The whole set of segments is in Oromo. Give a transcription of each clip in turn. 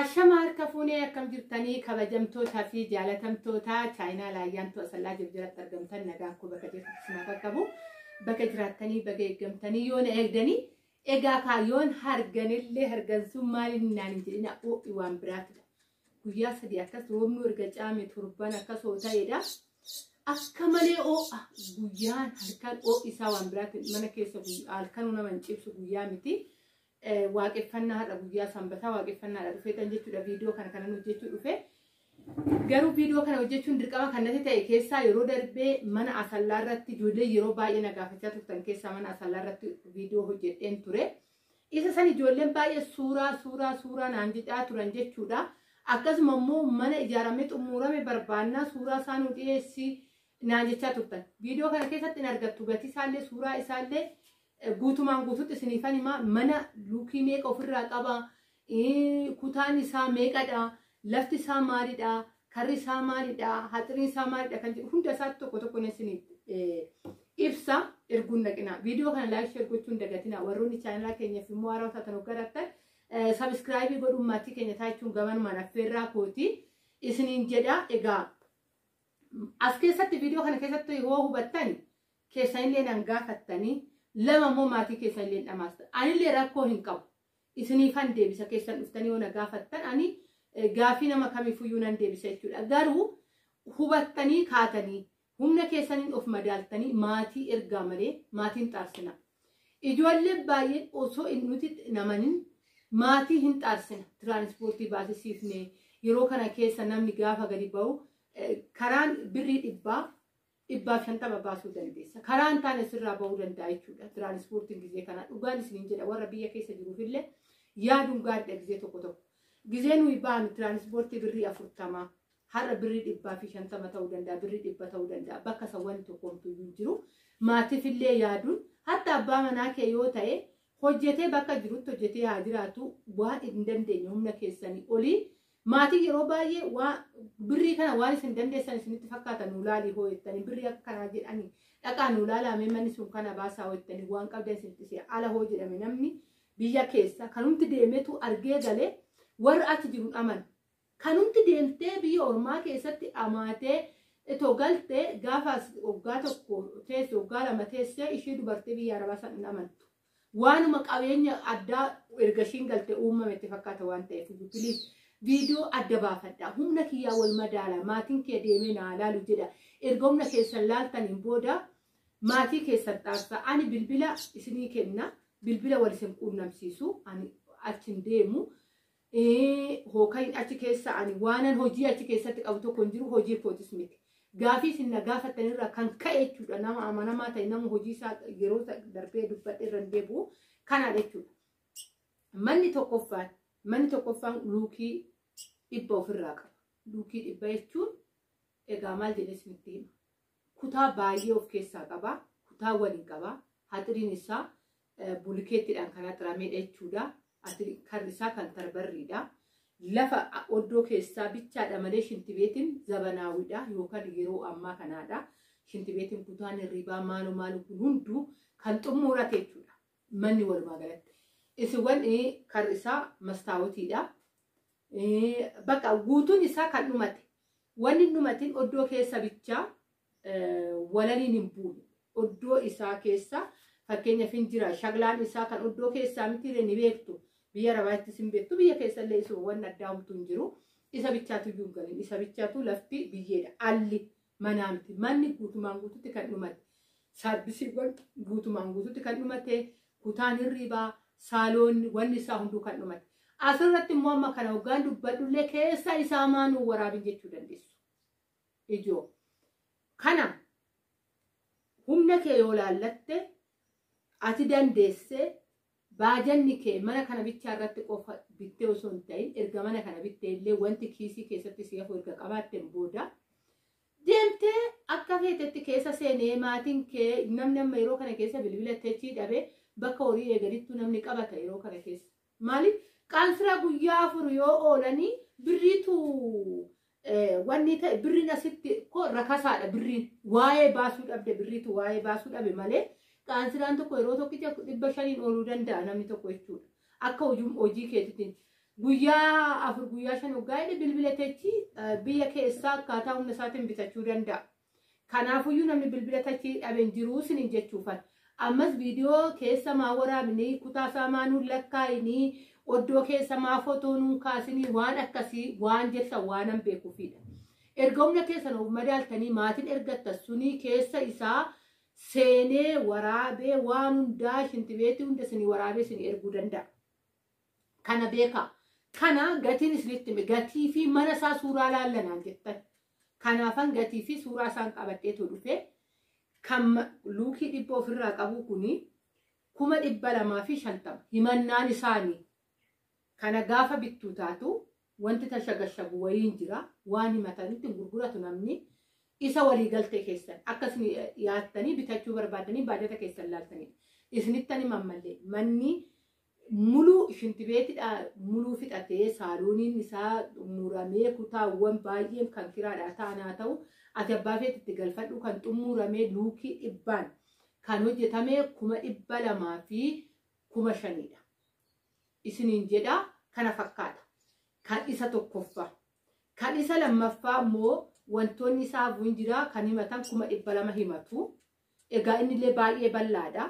Ashama harka fuunee akkam jirtanii kabajamtootaa fi jaalatamtootaa chaayinaa laayyaantuu asallaa jirjiratti argamtan nagaa koo bakka jirtu sinaa qaqqabu bakka jiraattanii bakka eeggamtanii yoo na eegdanii egaa kaayyoon harganillee hargansuun maaliin naan hin jedhina oo'i waan biraatidha. Guyyaa sadii akkas roobni erga caame turban akkas hoo ta'edha. Akka malee oo'a guyyaan halkan oo'i isaa waan biraati mana keessa halkanuu nama hin cibsu guyyaa miti. Waaqeffannaa har'a guyyaa sanbataa waaqeffannaadha dhufeetan jechuudha viidiyoo kana kanan hojjechuu dhufe. Garuu viidiyoo kana hojjechuun dirqama kan natti ta'e keessaa yeroo darbee mana asallaa irratti ijoollee yeroo baay'ee na gaafachaa turtan keessaa mana asallaa irratti viidiyoo hojjedheen ture. Isa san ijoolleen baay'ee suuraa suuraa suuraa naan jedhaa turan jechuudha. Akkasuma immoo mana ijaaramee xumurame barbaannaa suuraa isaa nu dhiyeessi naan jechaa turtan. Viidiyoo kana keessatti hin argattu gatii isaallee suuraa isaallee Guutumaan guututti isiniifan himaa mana luukii meeqa ofirraa qaba kutaan isaa meeqadha lafti isaa maalidha karri isaa maalidha haxiriin isaa maalidha kan jedhu hunda isaatti tokko tokko isiniif ibsa erguun naqina viidiyoo kana laayik sheer gochuun dagatina warroonni chaanalaa keenyaaf immoo haaraa taatan hoggarattan sabiskiraayibii godhuun maatii keenya taachuun gabanumaan affeerraa kooti isiniin jedha egaa as keessatti viidiyoo kana keessatti yoo hubattan keessanillee nan gaafattanii lama immoo maatii keessanillee dhamaastan anillee rakkoo hin qabu isiniifan deebisa keessan dhuftanii yoo na gaafattan ani eh, gaafii nama kamiifuyyuu nan deebisa jechuudha garuu hubattanii kaatanii humna keessaniin of madaaltanii maatii ergaa malee maatiin xaarsina ijoollee baay'een osoo hin nuti namanin maatii hin xaarsina tiraanispoortii baasisiifne yeroo kana keessa namni gaafa gadi ba'u eh, karaan birrii dhibbaa dhibbaa shantama baasuu dandeessa. Karaa hin taane sirraa bahuu danda'a jechuudha. Tiraanispoortiin gizee kana dhugaan isiniin jedha warra biyya keessa jiruuf illee yaaduun gaariidha gizee tokko tokko. Gizee nuyi baanu tiraanispoortii birrii afurtama har'a birrii dhibbaa fi shantama ta'uu danda'a birrii dhibba ta'uu danda'a bakka isa wanti tokko homtuu hin jiru. Maatiif illee yaaduun hatta abbaa manaa kee yoo ta'e hojjetee bakka jirutti hojjetee haa jiraatu waan hin dandeenye humna keessanii olii Maatiin yeroo baay'ee waa birrii kana waan isin dandeessan isinitti fakkaata nuu laalii hoo jettanii birrii akka kanaa jedhanii dhaqaa nuu laalaamee manni sun kana baasaa hoo jettanii waan qabdan isinitti si'a ala hoo jedhame namni biyya keessa kanumti deemetu argee galee warra achi jiru dhaman kanumti deemtee biyya ormaa keessatti dhamaatee itoo galtee gaafa as waggaa tokko teesse waggaa lama teessee ishee dubartii biyya arabaa san hin amantu Waanuma qabeenya addaa erga ishiin galte uumame itti fakkaata waan ta'eef iyyuu please viidiyoo adda baafadha. Humna kiyyaa wal madaala maatiin kee deemee naa laalu jedha. Erga humna keessan laaltaniin booda maatii keessan xaarsa. Ani bilbila isinii kenna bilbila wal isin quunnamsiisu ani achi hin deemu. Ee, hookayin achi keessa ani waanan hojii achi keessatti qabu tokko hin jiru hojii kootis miti. Gaafii isin na gaafatan irraa kan ka'e jechuudha nama amanamaa ta'e nama hojii isaa yeroo isa darbee dubbadhe irra hin deebi'u kanaadha jechuudha. Manni tokkoffaan manni tokkoffaan luukii dhibba ofirraa qaba. Luukii dhibba jechuun egaa maal jedhee isinitti hima. Kutaa baay'ee of keessaa qaba. Kutaa waliin qaba. Haxiriin isaa bulikeettiidhaan kan haxirameedha jechuudha. Karri isaa kan tarbarriidha. Lafa oddoo keessaa bichaadha malee shintibeetiin zabanaawidha yookaan yeroo ammaa kanaadha. Shintibeetiin kutaan hirribaa maaloo maaloo kun hunduu kan xummuurate jechuudha. Manni walumaa galatti. Isiwwan karri isaa mastaawotiidha. Bakka guutuun isaa kan dhumate. Wanni dhumatiin oddoo keessa bichaa walaliin hin buune. Oddoo isaa keessa fakkeenyaaf hin jira. Shaglaan isaa kan oddoo keessaa mitiire ni beektu. Biyya arabaattis hin beektu. Biyya keessallee isuma waan addaa homtu hin jiru. Isa bichaatu iyyuu hin galin. Isa bichaatu lafti biyyeedha. Alli manaa miti. Manni guutumaan guututti kan dhumate. Saarbisiiwwan guutumaan guututti kan dhumate. Kutaan hirriibaa, saaloonni, wanni isaa hunduu kan dhumate. Asirratti immoo amma kana hoggaan dubbadhullee keessa isaa maanuu waraabin jechuu dandeessu. ijoo. Kana humna kee yoo laallatte ati dandeessee baajanni kee mana kana bichaa irratti qofa bittee osoo hin ta'in erga mana kana bittee illee wanti kiisii keessatti si hafu erga qabaatteen booda deemtee akka feetetti keessa seenee maatiin kee namni amma yeroo kana keessa bilbila techii dhabee bakka horii eeganittuu namni qabata yeroo kana keessa. Mali qaal fira guyyaa afur yoo oolanii birriitu wanni ta'e birriin asitti ko rakasaadha birriin waa'ee baasuu dhabde birriitu waa'ee baasuu dhabe malee qaansiraan tokko yeroo tokkicha dhibba shaniin ooluu danda'a namni tokko jechuudha. Akka hojii hojii keetitiin guyyaa afur guyyaa shan hoggaa jedhe bilbila teechi biyya keessaa akkaataa humna isaatiin bitachuu danda'a. Kanaafuyyuu namni bilbila tachii dhabe hin jiruu sinin jechuufan. Ammas viidiyoo keessa maa waraabni kutaa isaa maa nuun lakkaa'ini oddoo keessa maa fotoo nuun kaasini waan akkasii waan jettan waanan beekuufiidha. Erga humna keessan of madaaltanii maatiin ergattan sunii keessa isaa seenee waraabee waan hundaa shintibeetii hunda isinii waraabee isinii erguu danda'a. Kana beekaa. Kana gatiin isinitti hime gatii fi mana isaa suuraa laallanaan jettan. Kanaafan gatii fi suuraa isaan qabadheetu dhufe. Kan ma- luukii dhibba ofirraa qabu kuni kuma dhibba lamaa fi shantama. Himannaan isaanii kana gaafa bittuu taatu Wanti tashagashagu wayiin jira. Waan himatanitti hin gurguratu namni. Isa walii galtee keessan akka isin yaattanii bitachuu barbaaddanii baajata keessan laaltanii. Isinittan hima ammallee manni muluu shintibeetidha muluu fixatee saaluuniin isaa muramee kutaawwan baay'een kan kiraadhaa ta'an haa ta'u ati abbaa feet itti galfadhu kan xumuramee luukii dhibbaan kan hojjetame kuma dhibba lamaa fi kuma shaniidha. isiniin jedha kana fakkaata kan isa tokkoffaa kan isa lammaffaa immoo wantoonni isaa bu'in jira kan himatan kuma dhibba lama himatu egaa innillee baay'ee bal'aadha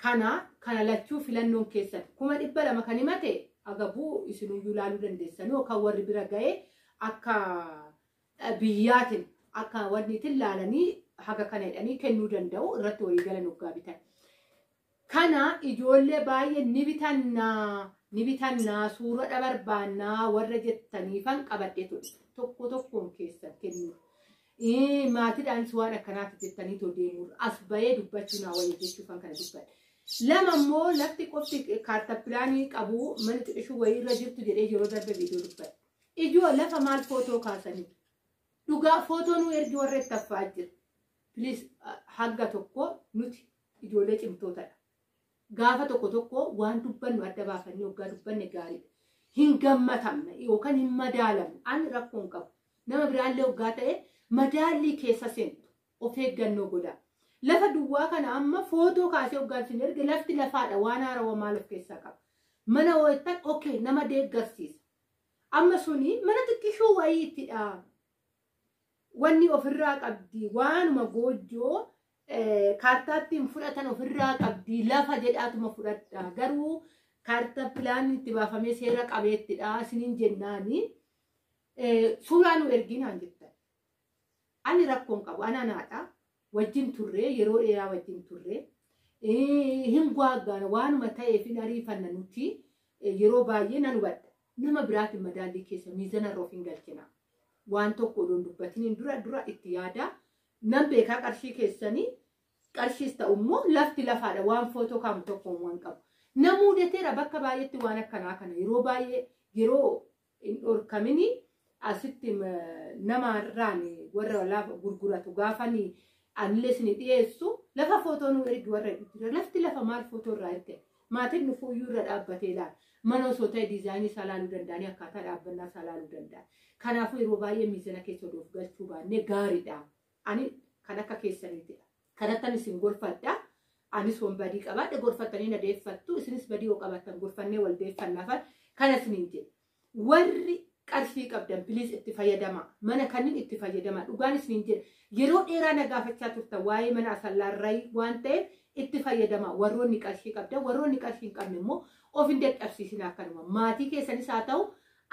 kana kana lachuu filannoon keessan kuma dhibba lama kan himate agabuu isiniyyuu ilaaluu dandeessanii yookaan warri bira ga'ee akka biyyaatin akka wanniitin laalanii haga kana jedhanii kennuu danda'u irratti walii galan oggaa bitan. Kana ijoollee baay'ee ni bitannaa ni bitannaa suuradha barbaannaa warra jettaniifan qabadhe ture. Tokko tokkoon keessan kennuu. Maatiidhaanis waan akkanaatti jettanii too deemuu as bahee dubbachuu naa wayya jechuufan kana dubbadhe. Lama immoo lafti qofti kaarta pilaanii qabu mana xiqishuu wayii irra jirtu jedhee yeroo darbe viidiyoo dubbadhe. Ijoo lafa maal footoo kaasanii. Dhugaa footoo nu ergi warra itti affaa jira. Please ah, hanga tokko nuti ijoollee cimtootadha. Gaafa tokko tokko waan dubbannu adda baafannee waggaa dubbanne gaariidha. Hin gammatamne yookaan hin madaalamne. Ani rakkoo hin qabu. Nama biraallee waggaa ta'e madaallii keessa seentu of eeggannoo godhaa. Lafa duwwaa kana amma footoo kaasee waggaan sin erge lafti lafaadha waan haarawa maal of keessaa qaba. Mana hoo'ettan okay nama deeggarsiisa. Amma suni mana xiqqishoo wayiitidha. Wanni ofirraa qabdi waanuma goojjoo eh, kaartaattiin fudhatan ofirraa qabdi lafa jedhaatuma fudhadha. Garuu kaarta pilaanii itti baafamee seera qabeettidha isiniin jennaani eh, suuraa nu erginaan jettan. Ani rakkoon qabu ananaadha. wajjin turree yeroo dheeraa wajjin turree eh, hin gwaaggaana waanuma ta'eef hin ariifanna nuti eh, yeroo baay'ee nan hubadha nama biraatiin madaallii keessa miizana irra of hin galchina waan tokko odoon dubbatiniin dura dura itti yaada nan beekaa qarshii keessanii qarshiis ta'u immoo lafti lafaadha waan footoo kaamu tokko waan qabu na muudateera bakka baay'eetti waan akkanaa kana yeroo baay'ee yeroo hin dhorkamini asitti nama irraan warra lafa gurguratu gaafani anillee isin dhiyeessu lafa footoo nu ergi warra jira lafti lafa maal footoo irraa erge maatiin nu fuuyyuu irra dhaabbatee laal mana osoo ta'e diizaayinii isaa laaluu danda'anii akkaataa dhaabbannaa isaa laaluu danda'a kanaafuu yeroo baay'ee miizana keessa odoof galchuu baannee gaariidha Ani kan akka keessaniitidha. Kanattan isin gorfadha. Anis wan badii qabaadhe gorfattanii na deeffattu. Isinis badii yoo qabaattan gorfannee wal deeffannaafa. Kana isiniin jedhe. Warri qarshii qabdan piliis itti fayyadamaa. Mana kanniin itti fayyadamaa. Dhugaan isiniin jedhe. Yeroo dheeraa na gaafachaa turtan waa'ee mana asallaarrayi waan ta'eef itti fayyadamaa. Warroonni qarshii qabdan warroonni qarshii hin qabne immoo of hin dadhabsiisinaa akkanuma. Maatii keessanis haa ta'u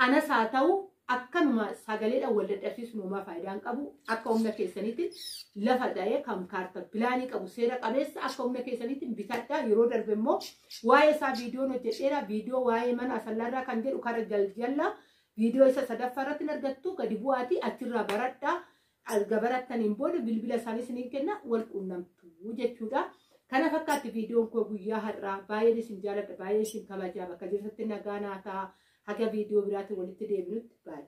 Anas haa ta'u akkanuma sagaleedhaan wal dadhabsiisuun homaa faayidaa hin qabu. Akka humna keessaniitiin lafa ta'ee kan kaarta pilaanii qabu seera qabeessa akka humna keessaniitiin bitadhaa yeroo darbe immoo waa'ee isaa viidiyoon hojjedheera viidiyoo waa'ee mana asallaarraa kan jedhu kara jaljallaa viidiyoo isa sadaffaa irratti hin argattu gadi bu'aatii achirraa baradhaa Erga barattaniin booda bilbila isaanii isiniin kenna wal quunnamtu jechuudha. Kana fakkaatti viidiyoon koo guyyaa har'aa baay'een isin jaaladha baay'een isin kabajaa bakka jirtatti nagaa naa ta'a haga viidiyoo biraatiin walitti deebinutti baay'ee.